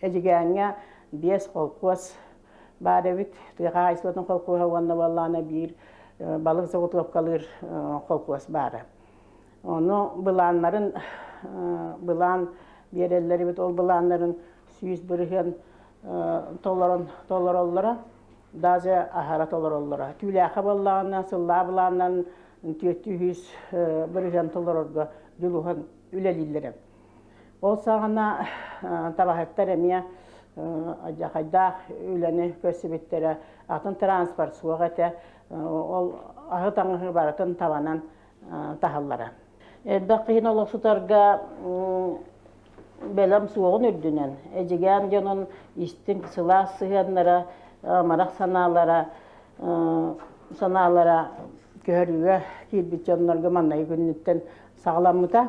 Эдьигээҥҥэ биэс холкуос баар эбит. Тыа хаһаайыстыбатын холкуоһа уонна буоллаҕына биир балык заготовкалыыр холкуос баара. Ону былааннарын былаан биэрэллэрибит. Ол былааннарын сүүс бырыһыан толорон толороллоро, даже аһара толороллоро. Түүлээхэ буоллаҕына сыллаа былааннарын 400 бырыһыан толорорго дьулуһан үлэлииллэрэ. Ол саҕана табаһыттар эмиэ адьахайдаах үлэни көрсүбүттэрэ, атын транспорт суох этэ, ол аһы таҥаһы барытын табанан таһаллара. Элбэх киһини олохсутарга бэлэм суоҕун үрдүнэн, эдьигээн дьонун истиҥ сылаас сыһыаннара, амарах санаалара, санаалара көһөрүүгэ киирбит дьоннорго маннайы күннүттэн саҕаламмыта.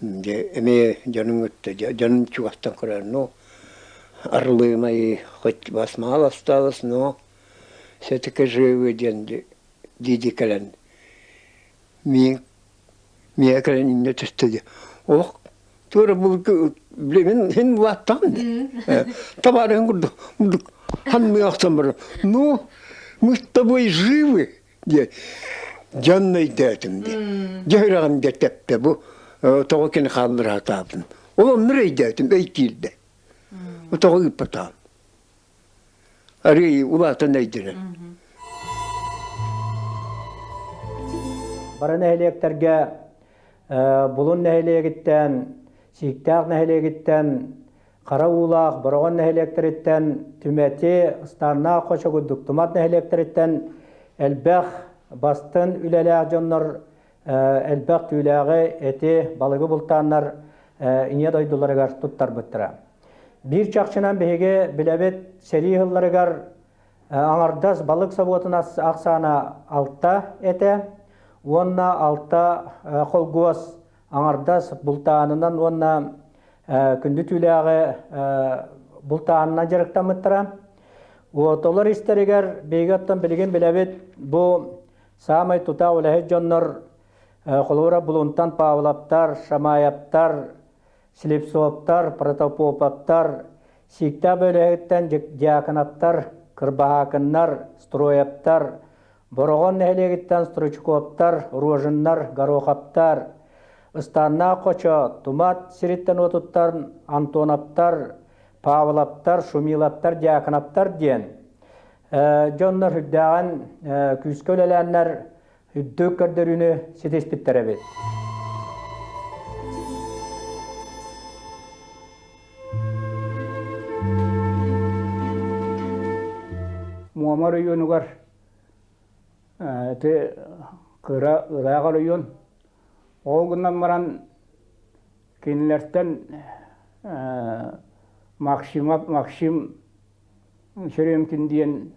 Дьэ эмиэ дьонуҥ өттө дьонун чугастан көрөр ну Орлынайы хоть вас мало осталось, но все-таки живы диэн дии-дии кэлэн миин миэхэ кэлэн инньэ түстэ дии Оһ туора былгы билигин иһин улааттаҕын дии табаарыһыҥ курдук ханнык охсон баран ну мы с тобой живы диэ дьон өйдөөтүм диэн дьэ үрэҕим дьэ тэптэ бу тоҕо кини хааллара сатаабын ол оннур өйдөөтүм өй киирдэ тоҕо ыыппатаҕым арыый улаатан өйдөнөр бары нэһилиэктэргэ булун нэһилиэгиттэн сииктээх нэһилиэгиттэн Хара уулаах Бороҕон нэһилиэктэриттэн Түмэти, Станнаах Хочогурдук Тумат нэһилиэктэриттэн элбэх бастын үлэлээх дьоннор элбэх түүлээҕи эти, балыгы бултааннар ийэ дойдуларыгар туттарбыттара. Биир чахчынан биһиги билэбит сэрии сылларыгар Аҥардас балык собуотун ахсаана алта этэ уонна алта холкуос Аҥардас бултаанынан уонна күндү түүлээҕи бултаанынан дьарыктаммыттара. Отолор истэригэр биһиги оттон билигин билэбит бу саамай тута улэһит дьоннор холобура Булунтан Павловтар, Шамаевтар, Слепцовтар, Протопоповтар, Сииктээх бөлөһүттэн Дьяконовтар, Кырбаһаакыннар, Строевтар, Бороҕон нэһилиэгиттэн стручковтар, роженнар, горохоптар, ыстааннаах хочо, тумат сириттэн-уотуттан Антоновтар, Павлоптар, Шумилоптар, Дьяконовтар диэн дьоннор үрдээҕин күүскэ үлэлээннэр үрдүк көрдөрүүнү ситиспиттэр эбит. Муомар уйуунугар Ити кыра ыраах оройуон ол гынан баран кинилэртэн Максима Максим Черемкин диэн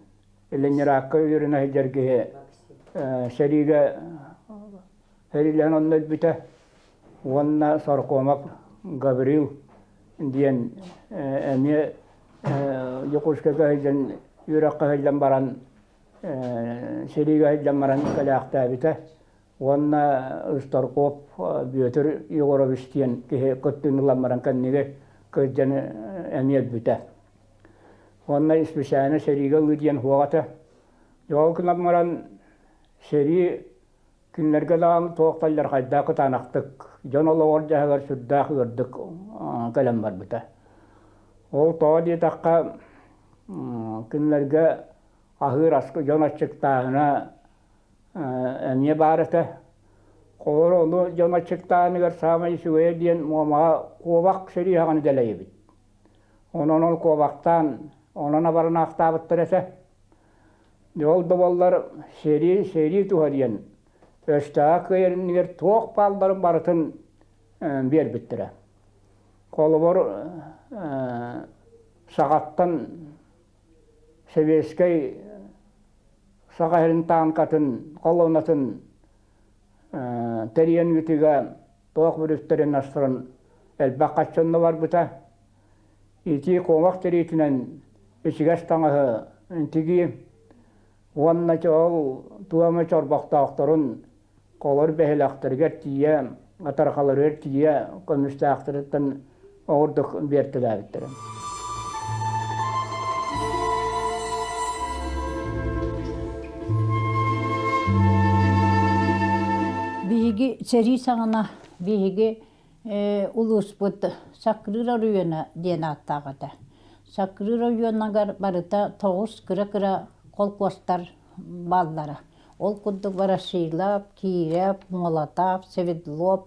Ленинраакка үөрэнэ сылдьар киһи сэриигэ сэриилэһэн онно өлбүтэ. уонна саркоомов Гаврил диэн эмиэ Дьокуускайга сылдьан үөрэххэ сылдьан баран сэриигэ сылдьан баран кэлээхтээбитэ уонна Ыстарков Бүөтүр Егорович диэн киһи кыттыыны ылан баран кэнниги кырдьан эмиэ өлбүтэ. Уонна исписээнэ сэриигэ ылыы диэн хуоҕата. Дьоҕул гынан баран сэрии Кинилэргэ даҕаны туох да алдьархайдаах кытаанахтык, дьон олоҕор дьаһаҕар сүрдээх ыырдык кэлэн барбыта. Ол тоҕо диэтэххэ, кинилэргэ аһыыр аскы дьон аччыктааһына эмиэ баар этэ. Холобура ону дьон аччыктааһыныгар саамай үчүгэйэ диэн Муомаҕа куобах сириһэҕин дэлэйэбит. Онон ол куобахтаан, онон абаран аахтаабыттар этэ. Ол да буоллар сэрии сэрии туһа диэн өстөөх кыайарынныгар туох баалларын барытын биэрбиттэрэ. Холобур саҕаттан сэбиэскэй саха сирин таанкатын холуонатын тэрийэн ыытыыга туох бүрүттэрин астаран элбэх хаччонно барбыта. ити куомах тириитинэн ичигэс таҥаһы тигии уонна ол туома чорбохтоохторун олор бэһилэхтэригэр тиийэ атархаларыгар тиийэ көмүстээхтэриттэн оҕурдук биэртэлээбиттэрэ биһиги сэрии саҕана биһиги улууспут Сакрыыр оройуона диэн ааттаах этэ. Сакрыыр оройуонугар барыта тоҕус кыра-кыра холкуостар бааллара. Ол курдук Ворошилов, Киирэп, Молотов, Свердлов,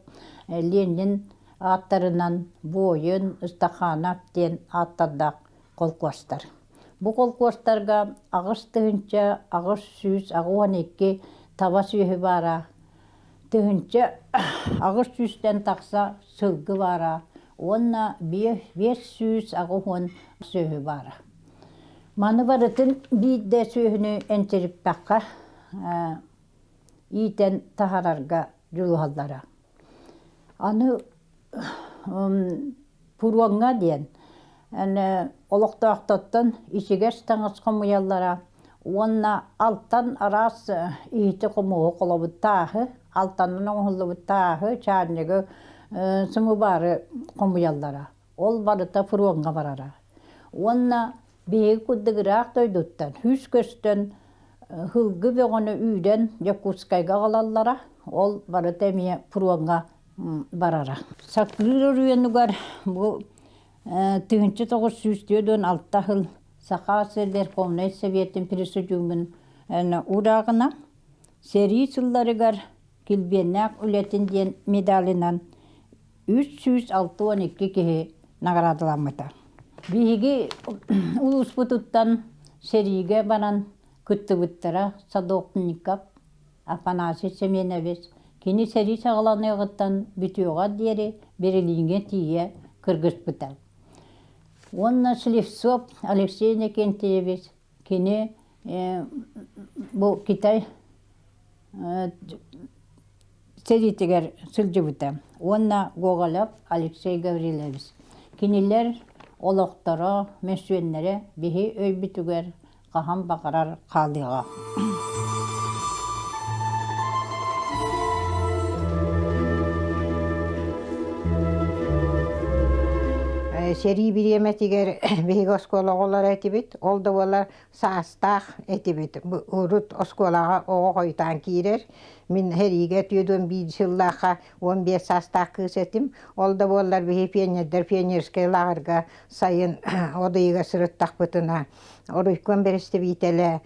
Ленин ааттарынан Буойун, Ыстаханов диэн ааттардаах холкуостар. Бу холкуостарга аҕыс тыһыынча, аҕыс сүүс, аҕыс уон икки таба сүөһү баара Тыһыынча аҕыс сүүстэн тахса сылгы баара уонна биэс сүүс аҕыс уон сүөһү баара. Маны барытын биирдэ сүөһүнү энчириппэххэ иитэн таһарарга дьулуһаллара. Аны Пуруоҥҥа диэн олохтоохтортон ичигэс таҥас хомуйаллара уонна алтан араас иһити-хомуоһу холобут тааһы, алтаннан оҥоһуллубут тааһы, чаанньыгы, сымыбаары хомуйаллара. Ол барыта пуруоҥҥа барара. Уонна биһиги курдук ыраах дойдуттан үс көстөн ыһылгы бөҕөнү үүнэн Дьокуускайга аҕалаллара. Ол барыта эмиэ пуруоҥҥа барара. Сатыыр оройуонугар бу тыһыынча тоҕус сүүс түөрт уон алта сыл Саха сир Верховнай Советтын пресудуумун урааҕынан сэрии сылларыгар килбиэннээх үлэтин диэн медалынан үс сүүс алта уон икки киһи наҕараадаламмыта. Биһиги улууспутуттан сэриигэ баран кыттыбыттара Садовников Афанасий Семенович кини сэрии саҕаланыаҕыттан бүтүөҕэр диэри Берлиҥҥэ тиийэ кыргыспыта уонна Слепцов Алексей Иннокентьевич кини бу Китай сэриитигэр сылдьыбыта уонна Гоголев Алексей Гаврилович кинилэр олохторо мөссүөннэрэ биһи өйбүтүгэр хаһан баҕарар хаалыаҕа сэрии бириэмэтигэр биһиги оскуола оҕолоро этибит ол да буоллар саастаах этибит урут оскуолаҕа оҕо хойутаан киирэр мин сэриигэ түөрт биир сыллаахха уон биэс саастаах кыыс этим ол да буоллар биһи пионердар пионерскай лааҕырга сайын одыйыга сырыттахпытына Оройком бэрэстэбиитэлэ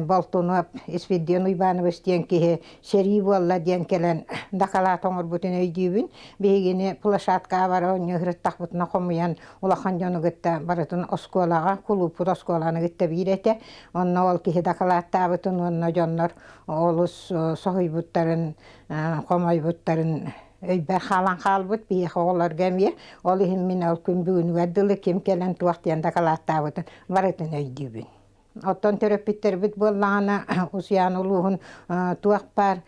Болтунов Исфирдион Уйбаанабыс диэн киһи сэрии буолла диэн кэлэн дакалаат оҥорбутун өйдүүбүн. Биһигини площадкаҕа бара оонньуһуруттахпытына хомуйан улахан дьону кытта барытын оскуолаҕа, кулууппут оскуоланы кытта биир этэ. Онно ол киһи дакалааттаабытын уонна дьоннор олус соһуйбуттарын, хомойбуттарын өйбөр хаалан хаалбыт биһиэхэ оҕолорго эмиэ ол иһин мин ол күн бүгүнүгэр дылы ким кэлэн туох диэн дакылааттаабытын барытын өйдүүбүн оттон төрөппүттэрбит буоллаҕына Усуйан улууһун туох баар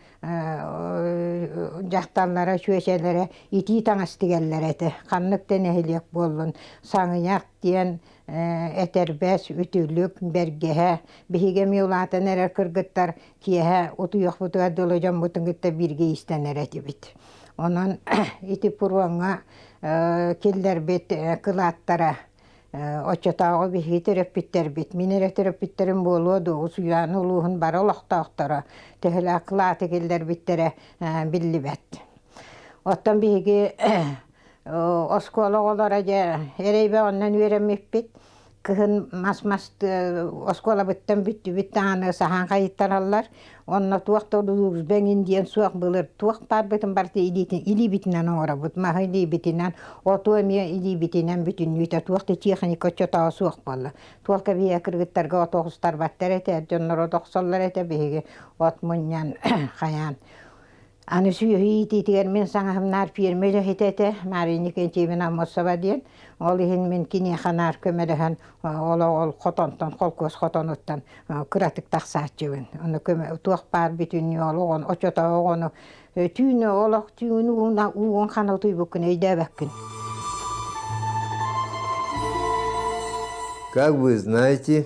дьахталлара чүөчэлэрэ итии таҥас тигэллэр этэ ханнык да нэһилиэк буоллун саҥыйах диэн этэрбэс үтүлүк бэргэһэ биһиги эмиэ улаатан эрэр кыргыттар Киэһэ утуйуохпутугар дылы дьоммутун кытта бииргэ иистэнэр этибит. Онон ити пуруоҥҥа киллэрбит кылааттара оччотооҕу биһиги төрөппүттэрбит, мин эрэ төрөппүттэрим буолуо дуу, Усуйаана улууһун бары олохтоохторо төһөлөөх кылааты киллэрбиттэрэ биллибэт. Оттон биһиги оскуола оҕолоро дьэ эрэйбэ оннун үөрэммиппит кыһын мас мас оскуолабыттан бүттүбүт даҕаны саһаан хайыттараллар онно туох да удулуурусба эҥин диэн суох былыр туох баарбытын барыта илиибитинэн оҥоробут маһы илиибитинэн оту эмиэ илиибитинэн бүтүннүүтэ туох да техника оччотооҕу суох буолла туох кэбиһэ кыргыттарга от оҕустарбаттар этэ дьонноро да охсоллор этэ биһиги от мунньан хайаан Аны сүөһү иитиитигэр мин саҥаһымнаар ферма үлэһитэ этэ Мария Иннокентьевна Аммосова диэн. Ол иһин мин киниэхэ наар көмөлөһөн олоҕор хотонтон холкуос хотонуттан кыратык тахсааччыбын. Ону туох баар бүтүннүү олоҕун очото оҕону түүнү олох түүн ууна уугун хана утуйбуккун өйдөөбөккүн. Как вы знаете,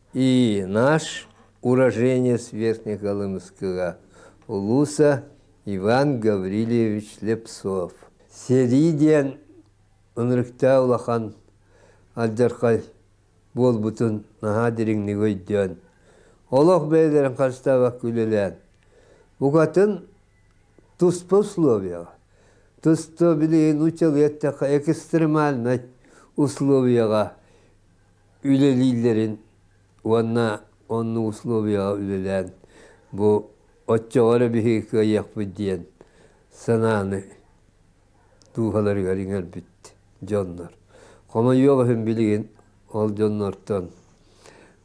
И наш уроженец Верхнеколымского улуса Иван Гаврильевич Лепцов. Сэрии диэн ынырыктаа улахан алдьархай буолбутун наһаа дириҥник өйдөөн, олох бэйэлэрин харыстаабакка үлэлээн, букатын туспа условияҕа, тусто билигин учугу эттэххэ экстремальнай условияҕа үлэлииллэрин уонна онно условияҕа үлэлээн бу оччоҕо эрэ биһиги кыайыахпыт диэн санааны дууһаларыгар иҥэрбит дьоннор. Хомойуох иһин билигин ол дьоннортон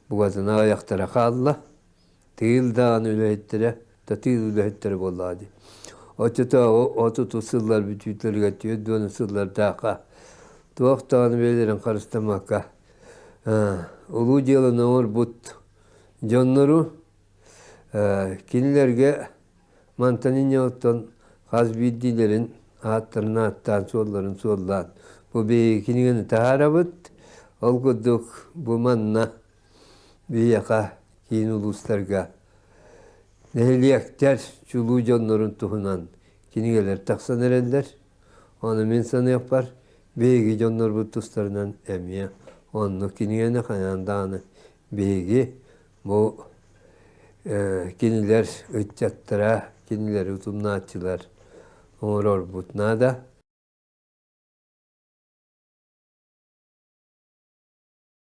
бугатына аҕыйахтара хаалла. тыын даҕаны үлэһиттэрэ татыыр үлэһиттэрэ буоллаҕа дии оччотооҕу отутус сыллар бүтүүтэлэригэр түөрт уон сыллардаахха туох даҕаны бэйэлэрин харыстаммакка улуу дьыаланы оҥорбут дьоннору кинилэргэ мантан инньэҕиттэн хас биирдиилэрин ааттарын ааттаан суолларын суоллаан бу биһиги кинигэни таһаарабыт ол курдук бу манна биһиэхэ киин улуустарга нэһилиэктэр чулуу дьоннорун туһунан кинигэлэр тахсан эрэллэр. Ону мин саныахпар биһиги дьоннорбут тустарынан эмиэ оннук кинигэни хайаан даҕаны биһиги бу кинилэр ыччаттара, кинилэри утумнааччылар оҥорорбут наада.